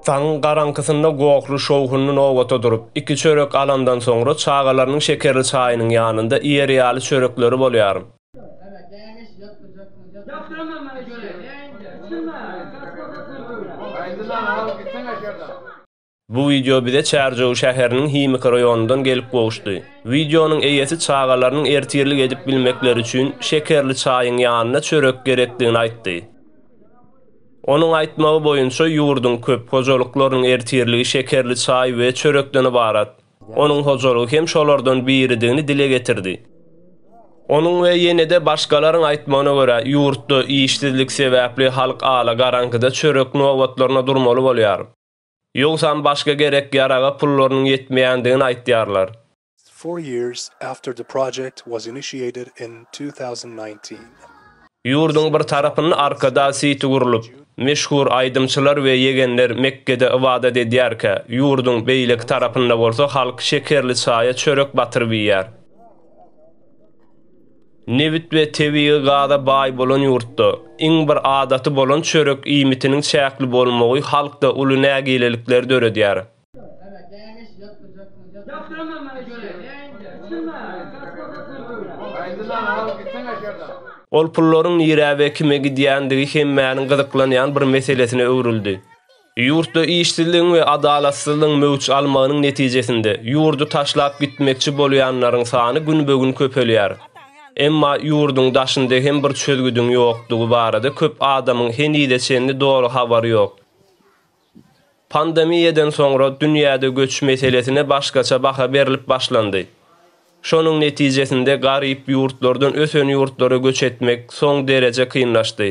Taň garaňkysynda Gokly şowhunly nobata durup, iki çörek alandan soňra çagalarynyň şekerli çaýynyň ýanynda iýer ýaly çörekleri bolýar. Bu wideo bize Çärjew şäheriniň Himiki raýonyndan gelip gowuşdy. Wideonyň eýesi çagalarynyň ertirlik edip bilmekleri üçin şekerli çaýyň ýanyna çörek gerekdigini aýtdy. Onuň aýtmagy boýunça ýurduň köp hojalyklarynyň ertirligi şekerli çaý we çörekden ybarat. Onuň hojalygy hem şolardan biridigini dile getirdi. Onuň we ýene-de başgalaryň aýtmagyna görä, ýurtda işsizlik sebäpli halk ala garaňkyda çörek nobatlaryna durmaly bolýar. Ýogsam başga gerek-ýaraga pullarynyň ýetmeýändigini aýtýarlar. Four years after the project was initiated in two thousand nineteen. Ýurduň bir tarapynda Arkadag siti gurlup, meşhur aýdymçylar we ýegenler Mekgede ybadat edýärkä, ýurduň beýleki tarapynda bolsa halk şekerli çaýa çörek batyryp iýýär. Nebit we tebigy gaza baý bolan ýurtda, iň bir adaty bolan çörek iýmitiniň çäkli bolmagy halkda uly nägilelikleri döredýär. Ol pullaryň nirä we kime gidýändigi hemmäniň gyzyklanýan bir meselesine öwrüldi. Ýurtda işsizligiň we adalatsyzlygyň möwç almagynyň netijesinde, ýurdy taşlap gitmekçi bolýanlaryň sany günbe-gün köpelýär. Emma ýurduň daşynda hem bir çözgüdiň ýokdugy barada köp adamyň henize çenli doly habary ýok. Pandemiýadan soňra dünýäde göç meselesine başgaça baha berlip başlandy. Şonuň netijesinde garyp ýurtlardan ösen ýurtlara göç etmek soň dereje kynlaşdy.